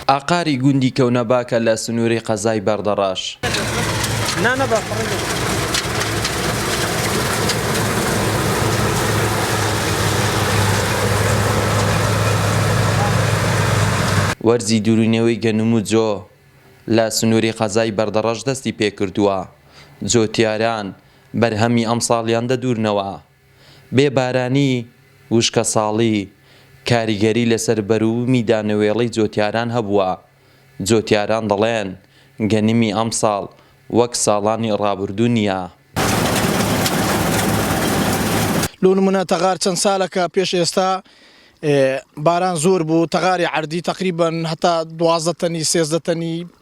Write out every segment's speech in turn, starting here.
ئاقاری گوندی کەونەباکە لە سنووری قەزای بەردەڕاش. وەرزی دورونەوەی گەنم و جۆ لە سنووری قەزای بەردەڕەش دەستی پێکردووە، جۆتیاران بەرهەمی ئەمساڵیان دەدورنەوە. بێ بارانی، وشکەساڵی، کاریگەری لەسەر بەروومی دانەوێڵەی جۆتیاران هەبووە، جۆتیاران دەڵێن، گەنمی ئەمساڵ وەک ساڵانی ڕابردوو نییە. لۆ نموونە تەغار چەند سالەکە پێش ئێستا باران زۆر بوو، تەغاری عەردی تەقریبەن هەتا دوازدە تەنی، سێزدە تەنی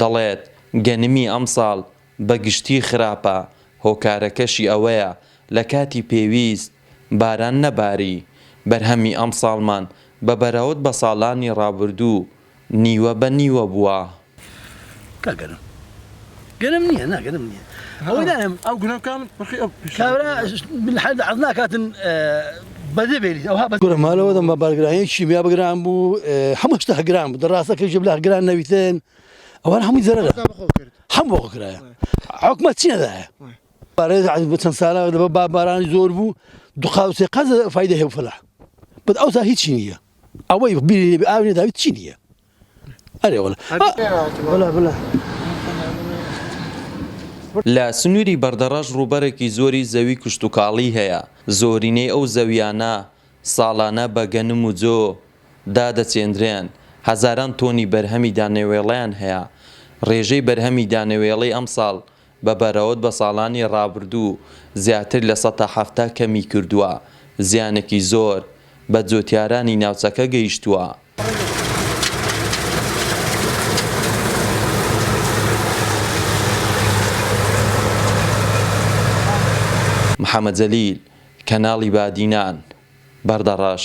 دەڵێت، گەنمی ئەمساڵ بە گشتی خراپە، هۆکارەکەشی ئەوەیە لە کاتی پێویست باران نەباری، بەرهەمی ئەمساڵمان بە بەراود بە ساڵانی رابردوو نیوە بە نیوە بووە. گرمالەوەدەم بە بارگرانی کیمیا بگران بوو هەموو شتە هەگران بوو دەڕاستە کەژ بلا هەگران نەویتن ئەوان هەمووی زەرە هەم بۆ کرایە حکومە چیەدایە بارێز عز بچەند سالا دەبە با بارانی زۆر بوو دوقاوسێ قەز فیدە هێ فلا بەد ئەوسا هیچی نییە ئەوەی بیری ئاوێ داویت چی نییە لە سنووری بەردەڕەش ڕووبەرێکی زۆری زەوی کشتوکاڵی هەیە، زۆرینەی ئەو زەوییانە ساڵانە بە گەنم و جۆ دادەچێندرێن، هەزاران تۆنی بەرهەمی دانەوێڵەیان هەیە، ڕێژەی بەرهەمی دانەوێڵەی ئەمساڵ بە بەراود بە ساڵانی ڕابردوو زیاتر لە سەتا حەفتا کەمی کردووە، زیانێکی زۆر بە جوتیارانی ناوچەکە گەیشتووە. محەمەد جەلیل، کەناڵی بادینان، بەردەڕەش.